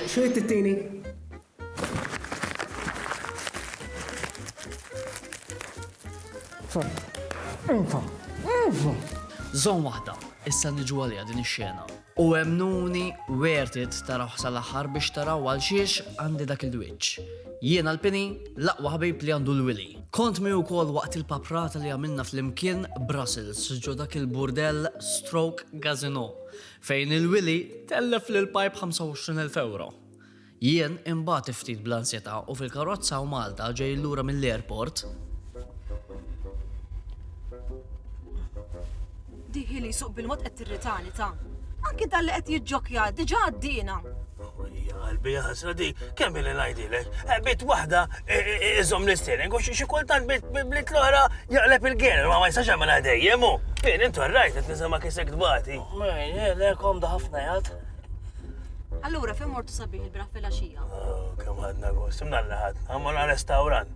X'inhi t-tieni? Zon waħda, issa niġu għalija din ix-xena. U emnuni worth it taraw l aħħar biex taraw għal xiex għandi dak il-dwiċ. Jiena l-pini, laqwa ħabib li għandu l-wili. Kont mi wkoll waqt il-paprata li għamilna fl-imkien Brussels ġo dak il-burdell Stroke Gazino. Fejn il-wili tellef lill-pajp 25,000 ewro. Jien inbagħat ftit bl-ansjetà u fil-karozza u Malta ġej lura mill-airport. Diħi li jsuq bil-mod qed tirritani ta'. Anki dan li qed jiġġokkja diġà għaddiena. Ija qalbi ħasra di, kemm li ngħidilek, eh, bit waħda eh, eh, iżom l-isteering u xi kultant bit l-oħra jaqleb il-gener, ma ma jistax għamela dejjem u. Fien intu rajt qed nisimha kisek tbati. Le komda ħafna jgħad. Allura fejn mortu sabiħ il-braħ fil-għaxija? Oh, kemm ħadna gost, imnalla ħadna, għamma restaurant.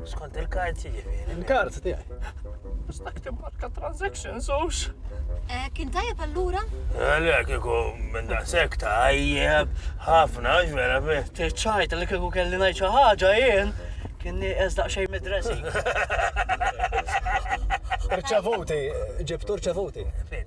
Skont il-kards jiġifieri. Il-kards tiegħi. Stajt imbarka transactions ux. Eh, kien tajjeb allura? Għalek, eh, kiku minn da sekk tajjeb, ħafna, ġvera bi. Tiċċajt li kiku kelli najċa ħagġa jien, kien nieqes daqxej mid-dressing. Rċevuti, ġibtu rċevuti.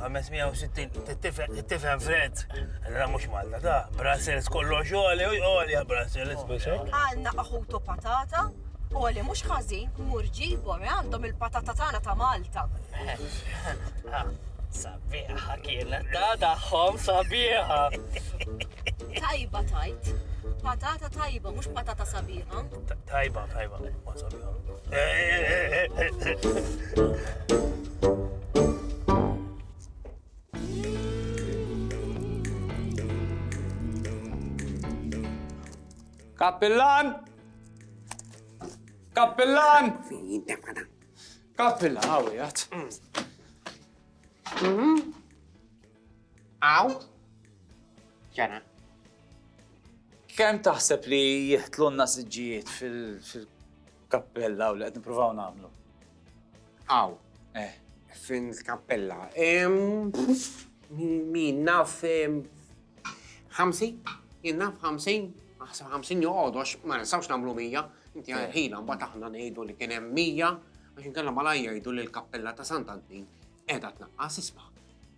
560 tifhem Fred, ra mhux Malta da, Brussels kollu xogħli u jqoli Brussels biex. Għalna aħutu patata, Oli mhux ħażin, mur ġibhom eh, għandhom il-patata tagħna ta' Malta. Sabiħa kienet ta' daħħom sabiħa. Tajba tajt, patata tajba, mhux patata sabiħa. Tajba, tajba, ma sabiħa. Kappillan! Kappillan! Kappillan, għaw jgħat. Għaw? Ġena. Kem taħseb li jihtlunna siġijiet fil-kappillan? Kappella hawn li qed nippruvaw nagħmlu. Hawn. Eh. Fin kappella. Min naf ħamsin? Jien naf ħamsin? Aħseb ħamsin joqgħodu għax ma nistgħux nagħmlu mija. Inti għarħina eh. mbagħad aħna ngħidu li kien hemm mija għax inkella malajja jgħidu li l-kappella ta' Sant Antin qiegħda tnaqqas isma'.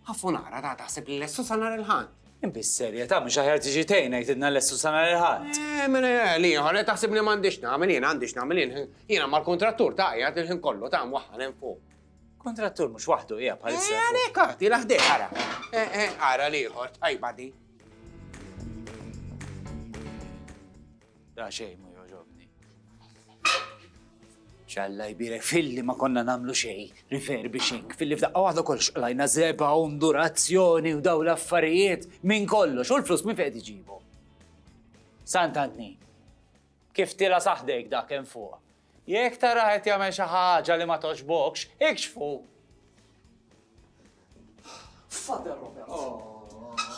Ħafu nara ta' taħseb li lestu sa nhar il-Ħadd. Inti serjetà mhux aħjar tiġi tgħin ngħidilna lestu sa nhar il-Ħadd. Eh, mela eh, li ieħor eh, taħseb li m'għandix nagħmel jien għandix nagħmel jien. Jiena mal-kuntrattur ta' qiegħed il-ħin kollu ta' mwaħħal hemm fuq. Kuntrattur mhux waħdu hija bħalissa. Eh, għalhekk għati laħdej ara. Eh, eh, ara li ieħor tajba di. Da xejn ma jogħġobni. Xalla jbirek filli ma konna namlu xej, refurbishing, filli f'daqqa waħda kol xqlajna zeba, undurazzjoni u daw l-affarijiet minn kollox, u l-flus minn fejn iġibu. Sant Antni, kif tila saħdejk dak hemm fuq, Jekk tarah qed jagħmel xi ħaġa li ma togħġbokx, ikxfu! Father Robert!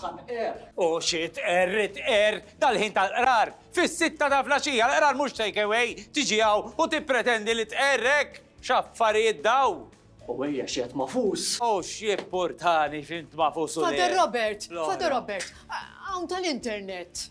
Ħanqer! U xi tqerr tqerr dal-ħin tal-qrar! Fis-sitta ta' flaxija l-qrar mhux take away, tiġi hawn u tippretendi li tqerr hekk! X'affarijiet dawn! U ejja xi qed mafus! U x'jippurtani f'int mafus u le! Father Robert! Father Robert! Hawn tal-internet!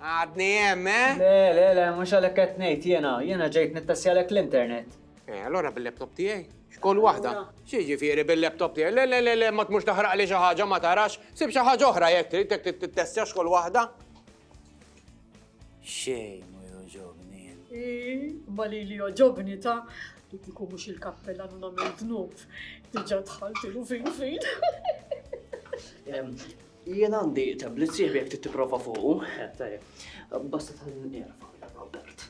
Għadni hemm, eh? Le, le, le, mhux għalhekk qed ngħid jiena, jiena ġejt nittestjalek l-internet. Eh, allora bil-laptop tiegħi? X'kull waħda? Xi ġifieri bil-laptop tiegħi? Le, le, le, le, ma tmux taħraq li xi ħaġa ma tarax, sib xi ħaġa oħra jekk trid jekk tittestja x'kull waħda. Xejn mu joġobni. Ma li li joġobni ta' li kiku mhux il-kappella nuna minn dnub. Diġà dħaltilu fin fin. Jien għandi tablet sieħbi jekk trid tipprova fuqu. Tajjeb. Basta tħalli nirfa' Robert.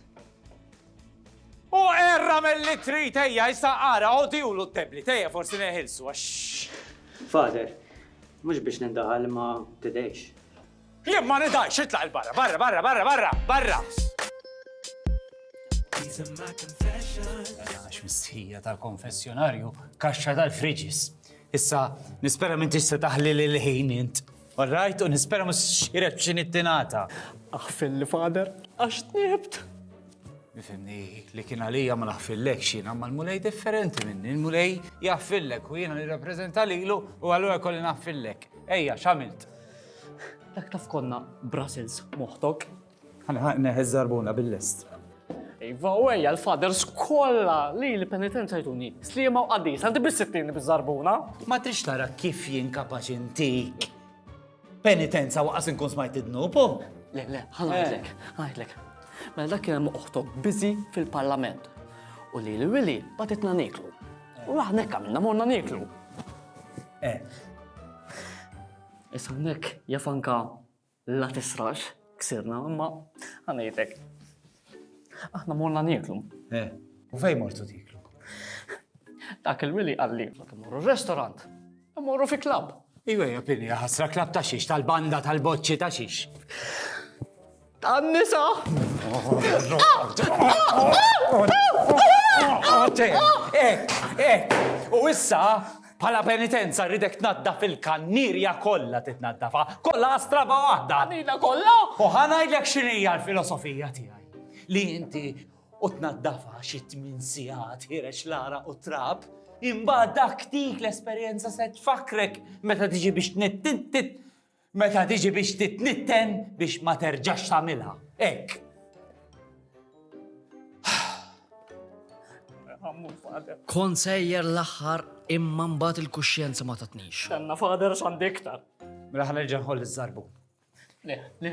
U erra mill-li trid ejja issa ara odjulu t-tablet ejja forsi neħilsu għax. Father, mhux biex nindaħal ma tidejx. Jien ma nidajx, itlaq il-barra, barra, barra, barra, barra, barra! Għax mistħija tal-konfessjonarju, kaxxa tal-friġis. Issa, nispera m'intix se taħli lil ħin int. Orrajt, u nispera mhux xiret b'xi nittinata. Aħfilli, Father, għax tnibt! Ifhimni, li kien għalija ma naħfillekx jiena, imma l-Mulej differenti minni. Il-Mulej jaħfillek u jiena nirrappreżenta lilu u allura jkolli naħfillek. Ejja, x'għamilt? Dak taf konna Brussels moħtok. Ħanħaq neħi żarbuna bil-lest. Iva, u ejja l-faders kollha li l-penitenza jtuni. Slima u qaddis, għandi bis-sittin biż-żarbuna. Ma trix tara kif jien kapaċi ntik. Penitenza waqas inkun smajt id-dnubu. Le, le, ħanajdlek, ħanajdlek. Mela dak kien hemm oħtok biżi fil-parlament. U li l-wili batitna niklu. U aħna hekk għamilna morna niklu. Eh. Issa hawnhekk jafanka La tisrax, ksirna, imma għanajtek. Aħna morna nieklu. Eh, u fej mortu tiklu? Dak il-wili għalli, ma timorru restorant, imorru fi klab. Iwe, japini, ħasra klab ta' xiex, tal-banda, tal-boċċi ta' xiex. Tan-nisa! Ek, ek, u issa Bħala penitenza rridek tnaddaf il-kannirja kollha titnaddafha, kollha astraba waħda, għanina kollha. U ħa ngħidlek x'inhija l-filosofija tiegħi. Li inti u tnaddafha xi tmien sigħat ħirex l-ara u trab, imbagħad dak dik l-esperjenza se tfakkrek meta tiġi biex tnitt Meta tiġi biex titnitten biex ma terġax tagħmilha. Hekk. Kont sejjer l-aħħar imma mbagħad il-kuxjenza ma tatnix. Tanna fader x'għandi iktar. Mela ħanerġa' nħoll iż-żarbun. Le, le.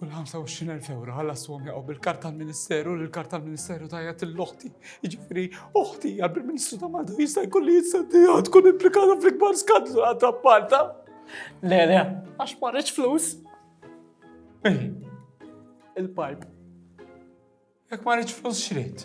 U l-25,000 euro għalla s-swom jaqaw bil-kart tal-Ministeru, l-kart tal-Ministeru tajja l-oħti. Iġifiri, oħti għabri ministru ta' Malta jista' jkolli jitsaddi tkun implikata fl-ikbar skandlu għadda Malta. Le, le, għax marriċ flus. Eh, il-pipe. Jek marriċ flus xrit.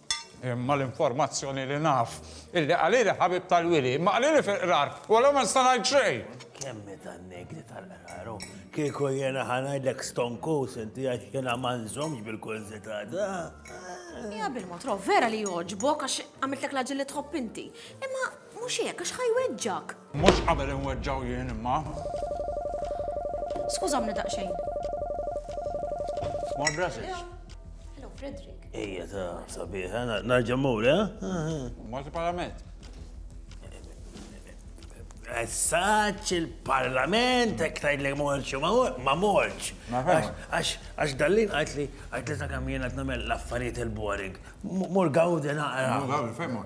Imma l-informazzjoni li naf hi li qalili ħabib tal-wili, ma qalili fil-qrar, u allura ma nista' ngħid xejn! Kemm hi tan-negri tal-qrar u kieku jiena ħa ngħidlek stonkus inti għax jiena ma nżommx bil-kurżità ta'. Ja bil-mod Rob, vera li jogħġbok għax għamiltlek l-aġil li tħobb inti. Imma mhux hekk għax ħa jweġġgħek. Mhux qabel inweġġgħu jien imma. Skużawni daqsxejn. Small Brussels. Hello, Frederick. Ejja ta' sabiħ, narġa' mur, eh? Malti Parlament. Essaċ il-parlament, ek tajd li morċ, ma morċ. Għax dallin għajt li għajt li ta' kamjena t-namel laffariet il-boring. Mur gawdi naqra. Mur gawdi, fejn mur.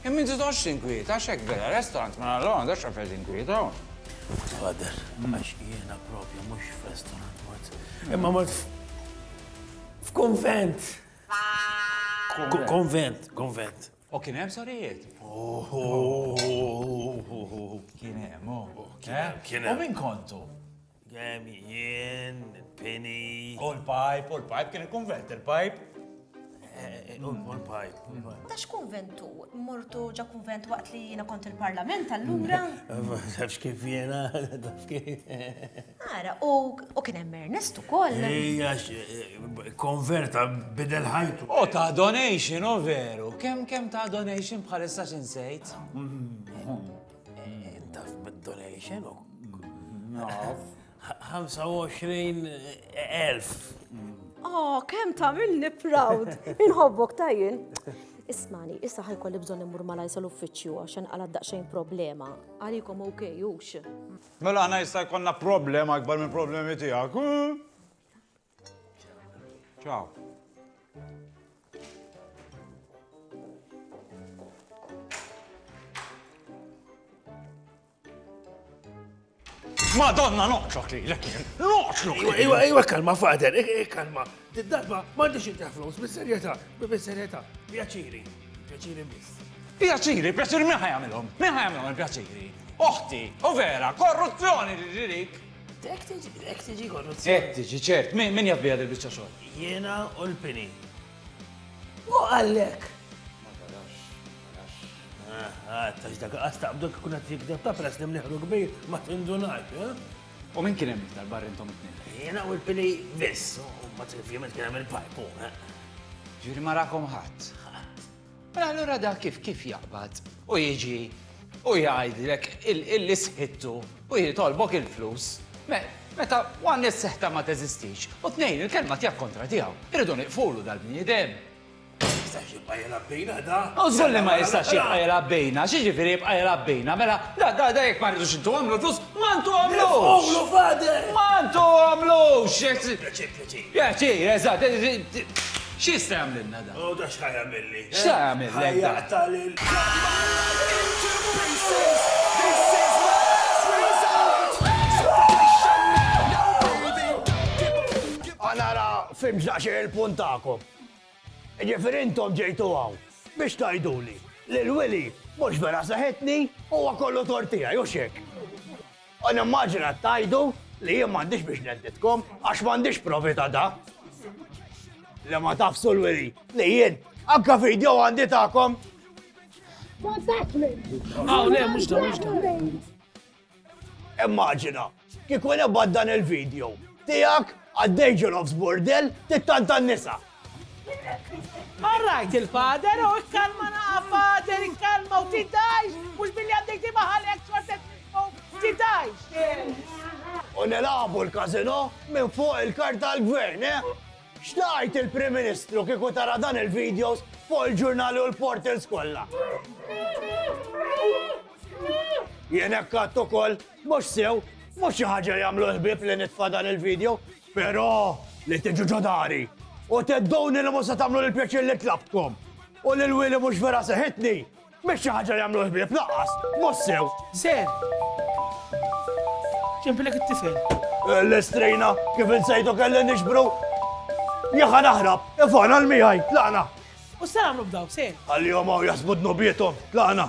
Imma inti tħossx inkwiet, għax hekk vera, restaurant ma nagħlqu għandha x'effett inkwiet hawn. Father, għax jiena propju mhux f'restaurant mort. Imma mort f'kunvent. Konvent, konvent. U kien hemm sorijiet? Kien hemm, oh. Kien hemm, kien hemm. U min kontu? Gem, jien, pini. U l-pajp, u l-pajp, kien il-konvent il-pajp. Eh, u l-pajp. Ta' x'konventu? Mortu ġa konvent waqt li jiena kont il-parlament allura? Tafx kif jiena, taf kif. Ara, u kien hemm Ernest ukoll. Ejja, eh, konverta bidel ħajtu. U ta' donation, u veru. Kemm kemm ta' donation bħalissa x'insejt? Mm, mm. Intaf bid-donation u. Naf. 25,000. Oh, kem ta' minni proud. Inħobbok tajjin. Ismani, issa ħajkolli bżon immur ma lajsa l-uffiċju għaxan għala daqxejn problema. Għalikom ok, ux. Mela ħna jista' jkollna problema akbar minn problemi tiegħek. Ciao. Madonna noqċok li l-ek jien, noqċok! Iwa, iwa, iwa, kalma, fader, kalma. Did-darba, mandiċ inti flus, bis-serjeta, bis-serjeta, pjaċiri, pjaċiri mis. Pjaċiri, pjaċiri, minn ħajamilom, minn ħajamilom il-pjaċiri. Oħti, u vera, korruzzjoni li ġirik. Ek tiġi, ek tiġi korruzzjoni. Ek tiġi, ċert, min jaf bija dil-bicċa xogħol? Jiena u l-pini. U għallek. Ma tarax, tarax. Għattax ah, dak għastaqbdu kun għat jikdeb ta' pres li mniħru kbir ma tindunat, eh? U min kien hemm tal-bar intom it-tnejn? Jiena u l-pini biss, u ma t-tifjiment kien hemm il-pajpu, eh? Ġiri marakom ħadd. Mela allura dak kif kif jaqbad u jiġi u jgħidlek illi sħittu u jitolbok il-flus meta one is-seħta ma teżistix u tnejn il-kelma tiegħek kontra tiegħu. Irridu nieqfulu dal-bniedem. Jistax jibqa' jilgħab bejna da. U żgur li ma jistax jibqa' jilgħab bejna, x'jiġifieri jibqa' jilgħab bejna, mela da da da jekk ma rridux intuhomlu l-flus, ma ntuhomlux! Nifqulu, Father! Ma ntuhomlux! Pjaċir, eżatt, x'jista' jagħmlilna dan? U da x'ħa jagħmilli? X'ħa jagħmillek dan? Ħa jaqta' lil. Ħa nara fhimtx daqsxejn il-punt tagħkom. Jiġifieri intom ġejtu hawn biex tgħiduli li l-wili mhux vera seħħitni u huwa kollu tort tiegħi, hux hekk? U nimmaġina qed tgħidu li jien m'għandix biex nedditkom għax m'għandix provi ta' da. Li ma tafsu l-wili li jien anka video għandi tagħkom. Ma dak minn. Ah, le, mhux da, mhux da. Immaġina, kieku nebgħad dan il-video tiegħek għaddej ġenofs burdel tittantan nisa. Marrajt il-fader, u ikkalma naqa fader, ikkalma u tidajx, mux billi għandek di maħalek xortet nismu, tidajx. U nilabu l-kazino minn fuq il-kart tal-gvern, eh? Xtajt il-Prim Ministru kiku tara dan il-videos fuq il-ġurnali u l-portals kollha. Jien hekk ukoll mhux sew, mhux xi ħaġa jagħmlu l-ħbieb li nitfa' dan il-video, Però li tiġu ġo dari u thedduni li mhux se tagħmlu l-pjaċir li tlabtkom u li l-wili mhux vera seħitni, mhix xi ħaġa li jagħmlu l-ħbieb lanqas, mhux sew. Ser! Ġenbilek it-tifel. L-istrina, kif insejtu kelli nixbru? Jekk ħa naħrab, ifanal miegħi, tlaqna. U x'se nagħmlu b'daw, ser? Ħallihom hawn jaħsbu dnubiethom, tlaqna.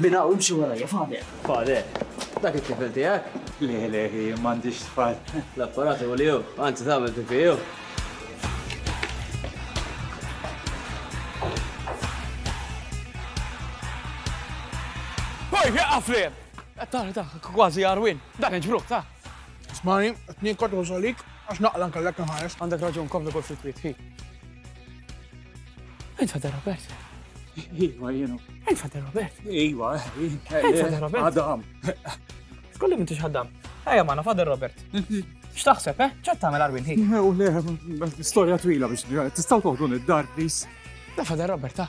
Minn hawn imxi warajja, Fader. Fader, dak it-tifel tiegħek? Le, le, m'għandix tfal. L-apparat u liw, anzi tagħmel pipì jew. Oj, għafli! Taħri ta' kważi jarwin, dan iġbruħ ta' Smani, t-tnien kotru solik, għax naqla nkallek nħares. Għandek raġun, kompli kol fil-kwiet, hi. Int Fader Robert? Iva, jenu. Int Fader Robert? Iva, Int Fader Robert? Adam. Skolli minn tix ħaddam. Ejja maħna Fader Robert. X'taħseb, eh? ċat tagħmel Arwin ħin? U le, storja twila biex tistgħu toħdu id-dar, please. Da Fader Robert, ta'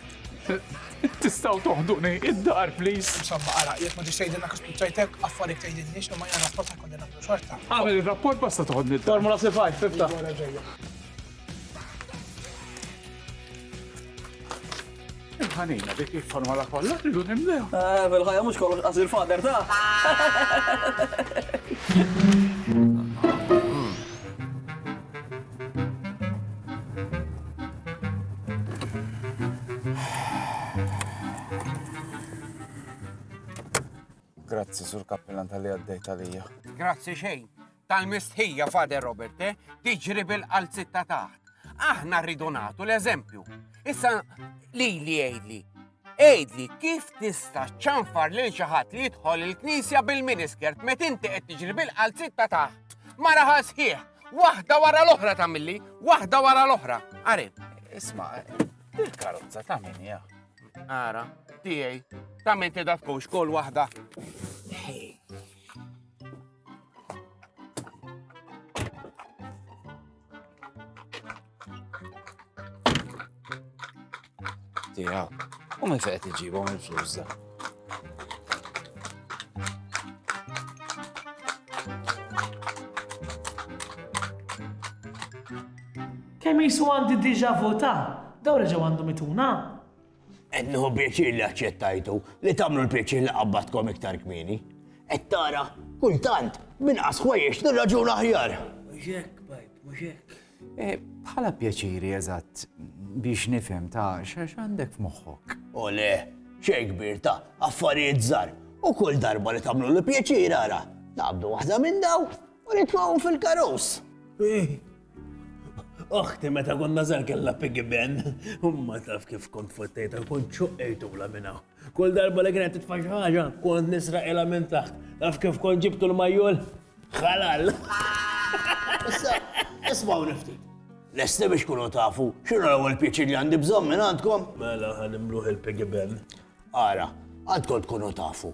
Tistaw toħduni id-dar, please. Insomma, għara, jek ma ġiċejdinna kif kuċċajtek, affarijiet tgħidilniex li ma jgħan rapport ta' kollina xorta. Għamil il-rapport basta toħodni id-dar. Formula C5, fifta. Il-ħanina dik il-formula kollha tridu nimlew. Eh, bil-ħajja mhux kollox qasir fader ta'. Grazzi, Sur Kappilan, tal-li għaddejt għalija. Grazzi xejn. Tal-mistħija, Fader Robert, eh? tiġri bil-qalzitta taħt. Aħna rridu nagħtu l-eżempju. Issa li li għidli, Għidli kif tista' ċċanfar lil xi ħadd li jidħol il-knisja bil-miniskirt met inti qed tiġri bil-qalziet ta' taħt. Mara ħal sħiħ, waħda wara l-oħra ta' milli, waħda wara l-oħra. Għari. Isma, il-karozza ta' min ja. Għara, tijaj, ta' min ti datkux kol waħda. Tiegħu. U minn fejn qed iġibhom il-flus da. Kemm jisu għandi diġa vota, daw reġgħu għandhom ituna. Qed nieħu pjaċir li aċċettajtu li tagħmlu l-pjaċir li qabbadkom iktar kmieni. Qed tara, kultant, b'inqas ħwejjeġ nirraġuna aħjar. Mhux hekk, bajb, mhux hekk. Eh, bħala pjaċiri eżatt biex nifhem ta' xax għandek f'moħħok. O le, xejn kbir ta' affarijiet żgħar. U kull darba li tagħmlu li pjaċir ara, naqbdu waħda minn daw U nitmgħu fil-karus. Oħti meta konna żar kellha piggy ben, u ma taf kif kont fottejta kun ċuqqejtula minna. Kull darba li kienet titfa' xi ħaġa, kont nisraqilha minn taħt. Taf kif kont ġibtu l-majjol? Ħalal. Issa, ismaw nifti. Lesti biex kunu tafu, xinu l-ewwel pieċi li għandi bżonn minn għandkom? Mela ħanimluħ il-piggy ben. Ara, għandkom tkunu tafu.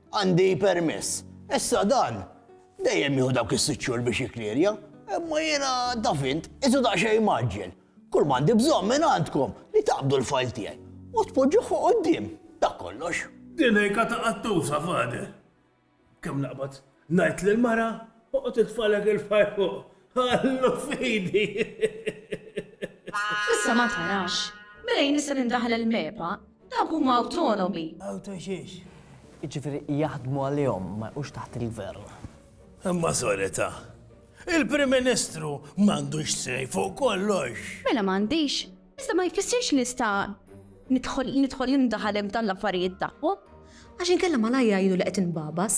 Għandi permess. Issa dan dejjem jieħu dawk is-sitt xhur biex jikklierja, imma jiena taf int, qisu daqsxejn mgħaġġel. Kull ma għandi bżonn minn għandkom li taqbdu l-fajl tiegħi u tpoġġuh fuq quddiem. Dak kollox. Din hi kata qattusa, Father. Kemm naqbad ngħid lill-mara, oqgħod itfagħlek il-fajl fuq Ħallu f'idi! Issa ma tarax. Mela jien nista' nindaħal il-MEPA? Dawk huma awtonomi. Awto xiex? Jiġifieri jaħdmu għalihom, ma jqgħux taħt il-gvern. Imma solita. Il-Prim Ministru m'għandux sej fuq kollox. Mela m'għandix. Iżda ma jfissirx li nista' nidħol nindaħal hemm dan l-affarijiet tagħhom. Għax inkella malajr jgħidu li qed inbagħbas.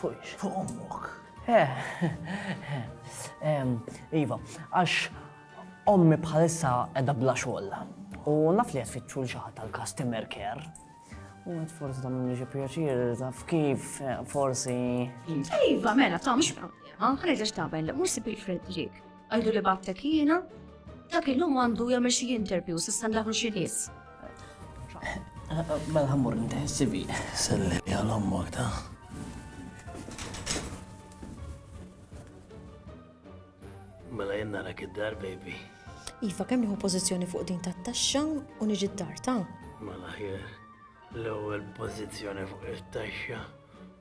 Fuq fuq ommok. Eh, iva, għax ommi bħalissa edha bla xogħol. U naf li qed fitxu l-xaħat tal-customer care. U għed forsi ta' minni xi pjaċir, taf kif, eh, forsi. Iva, mela, ta' mhux ħareġ taben, mhux sibil fil-ġik. Għidu li battek jiena, dak illum għandu jagħmel xi interview, s'issa ndaħlu xi nies. Mela ħammur nteħ sivi. Sellem jgħal ommok ta' Mela jenna rak id-dar, baby. Iva, kemm nieħu pożizzjoni fuq din tat-taxxa u niġi d-dar ta'? Mela ħjer, l-ewwel pożizzjoni fuq it-taxxa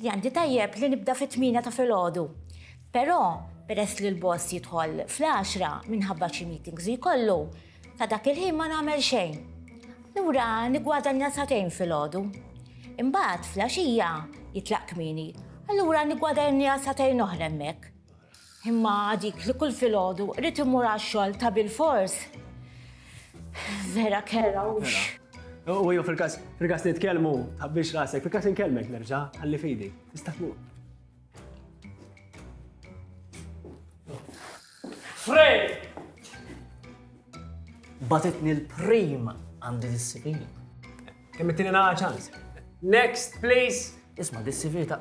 Li għandi tajjeb li nibda fit-tmienja ta' filgħodu. Però, peress li l-boss jidħol fl-għaxra minħabba xi meetings li jkollu, ta' dak il-ħin ma nagħmel xejn. Allura niggwadanja sagħtejn filgħodu. Imbagħad, fl-għaxija, jitlaq kmieni, allura niggwadanja sagħtejn oħra hemmhekk. Imma dik li kull filgħodu rrid immur għax-xogħol ta' bilfors. Vera kera hux. U jew fil-każ fil-każ nitkellmu tħabbix rasek, fil-każ inkellmek nerġa' ħalli fidi. Tista' tmur. Fred! Batitni l-prim għandi disciplina. Kemm ittini naqa ċans. Next, please. Isma, di CV ta'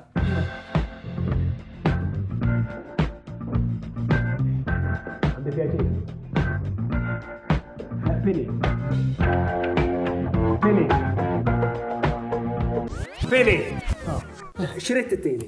Għandi pjaċir. Pili. Pili. Pili. Xirrit t-tini.